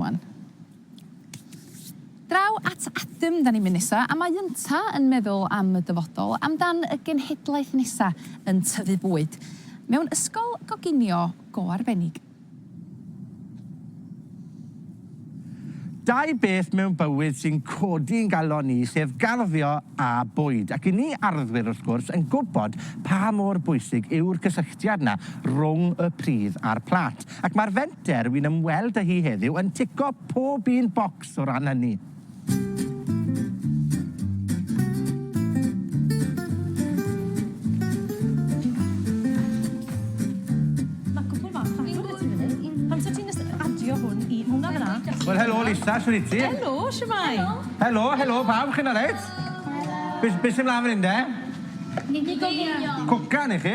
Iwan. Draw at Adam 'dan ni'n mynd nesa a mae ynta yn meddwl am y dyfodol, amdan y genhedlaeth nesa yn tyfu bwyd mewn ysgol goginio go arbennig. Dau beth mewn bywyd sy'n codi i'n galon ni, sef garddio a bwyd, ac i ni arddwyr wrth gwrs yn gwybod pa mor bwysig yw'r cysylltiad 'na rwng y pridd a'r plat. Ac mae'r fenter wi'n ymweld â hi heddiw yn tico pob un bocs o ran hynny. Wel helo Lisa, shwt wyt ti? Helo, shwmae? Helo, helo pawb, chi'n alright? Helo. Be' s- be' sy mlan fan 'yn de? Cwcan i chi?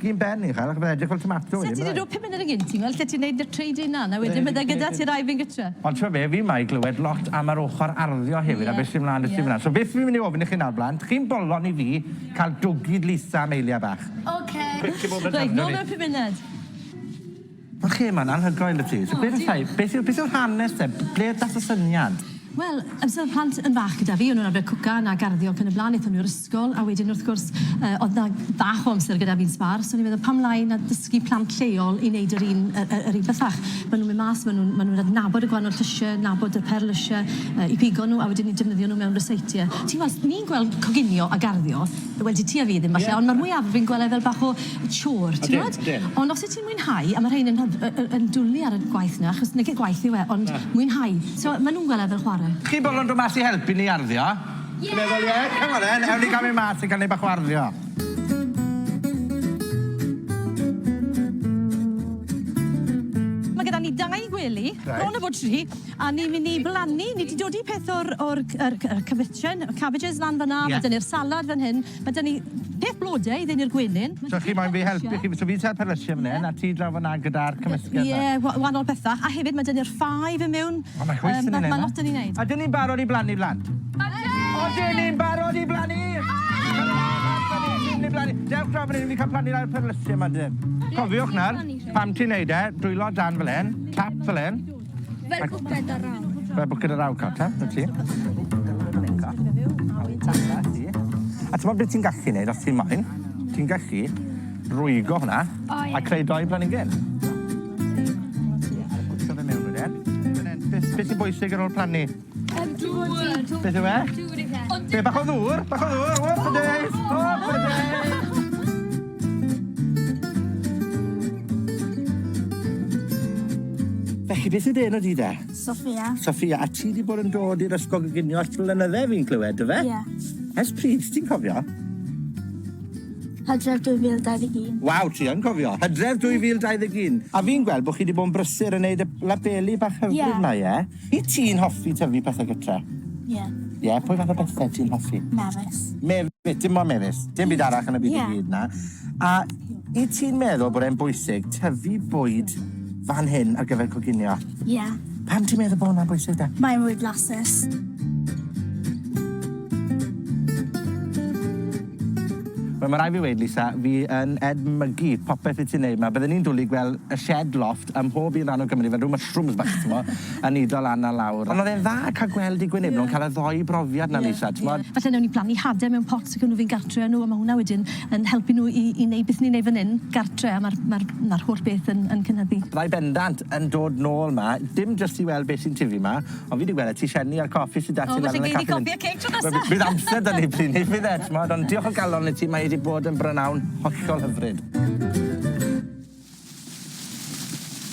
Cyn ben uchel ac byddai'n edrych fel tomato wedyn byddai? Sa ti 'di roi pum munud yn gynti weld lle ti'n neud dy trade in lan a wedyn bydde gyda ti rai fynd gytre. Ond t'mo' be' fi 'ma i glywed lot am yr ochor arddio hefyd a be' sy mlan 'da ti fynna. So beth fi myn' i ofyn i chi nawr blant, chi'n bolon i fi ca'l dwgid Lisa am eiliad bach. Ocê. Reit nôl mewn pum munud. Oce ma'n anhygoel y ti. So beth yn llai? Beth yw beth yw'r hanes te? Ble y dath y syniad? Wel, amser oedd plant yn fach gyda fi, o'n nhw'n arfer cwcan a garddio ac yn y blaen, aethon nhw i'r ysgol a wedyn wrth gwrs yy oedd 'na bach o amser gyda fi'n sbâr, so o'n i'n meddwl pam lai na dysgu plant lleol i neud yr un yy yy yr un bethach. Ma' nhw'n mynd mas, ma' nhw'n ma' nhw'n adnabod y gwahanol llysie, nabod y perl lysie yy i pigo nhw a wedyn ni'n defnyddio nhw mewn ryseitiau. Ti'n gweld, ni'n gweld coginio a garddio, wel 'di ti a fi ddim falle, ond ma'r mwyafrif yn gwel e fel bach o chore t'mod? Odyn, odyn. Ond os wyt ti'n mwynhau a ma' rhein yn hyf- yy yy yn dwli ar y gwaith 'na achos nage gwaith yw e ond... Na. ...mwynhau. So ma' nw'n gwel' e fel chware. Chi bobl yn do' mas i helpu ni arddio? Ie! Ti'n meddwl ie? Come on then, ewn ni ga'l myn' mas a ga'l neud bach o arddio. Ma' gyda ni dau gwely. Reit. Bron a bod tri. A ni'n mynd i blannu, ni 'di dodi peth o'r o'r c- yr c- y cabitjen, y cabbages lan fyn 'na. Ie. Ma' 'dyn ni'r salad fyn hyn. Ma' 'dyn ni peth blode i ddeunu'r gwenyn. So chi moyn fi helpu chi, so fi'n ta'r perlysie fyn 'yn a ti draw fyn 'na gyda'r cymysgedd 'na? Ie, wa- wanol betha. A hefyd ma' 'dyn ni'r ffâi fyn miwn. O ma' chwith yn neud 'na. Ma' lot 'dyn ni'n neud. Ydyn ni'n barod i blannu blant? Ydyn! Odyn ni'n barod i blannu? Odyn! Dewch draw fyn 'yn i fi ca'l plannu lawr perlysie 'ma 'dyn. Cofiwch nawr, pan ti'n neud e, dwylo dan fel 'yn, tap fel 'yn. Fer bwced a raw. Fer bwced a raw, Carter, na ti. A ti'n bod beth ti'n gallu neud os ti'n moyn? Ti'n gallu rwygo hwnna oh, yeah. a creu doi planigyn. Beth sy'n bwysig ar ôl plannu? Yym dŵr di dŵr. Beth yw e? Dŵr yw e. Be' bach o ddŵr? Bach o ddŵr? Whoop a days! Whoop a days! Felly beth yw dy enw di de? Sophia. Sophia a ti 'di bod yn dod i'r ysgol goginio ers blynydde fi'n clywed do fe? Ie. Ers pryd ti'n cofio? Hydref 2021. Waw ti yn cofio. Hydref 2021. A fi'n gweld bo' chi 'di bod yn brysur yn neud y labeli bach hyfryd 'ma ie? Wyt ti'n hoffi tyfu pethau gytre? Ie. Ie? Pwy fath o bethau ti'n hoffi? Mefus. Mefus, dim ond mefus. Dim byd arall yn y byd i gyd na. A i ti'n meddwl bod e'n bwysig tyfu bwyd fan hyn ar gyfer coginio? Ie. Pam ti'n meddwl bod hwnna'n bwysig da? Mae'n mwy blasus. Wel ma' rai' fi weud Lisa fi yn edmygu popeth wyt ti'n neud 'ma. Bydden i'n dwli i gwel' y shed loft ym mhob un ran o Gymru fel rw mushrooms bach t'mo' yn nido lan a lawr. Ond o'dd e'n dda ca'l gweld dy gwynebw yn ca'l y ddou brofiad 'na Lisa t'mod? Falle newn ni blannu hade mewn pot ac ewn nw fy'n gartre â nw a ma' hwnna wedyn yn helpu nw i i neud beth ni'n neud fyn 'yn gartre a ma'r ma'r ma'r holl beth yn yn cynyddu. Byddai bendant yn dod nôl 'ma dim jyst i weld be' sy'n tyfu 'ma O fi 'di gwel' e ti sieni a'r coffi sy 'da ti lan yn y caffi. O falle gei di coffi a ceg tro nesa. Wel bydd amser 'da ni pryd 'ny bydd e t'mod ond diolch o galon i ti mae e 'di bod yn brynawn hollol hyfryd.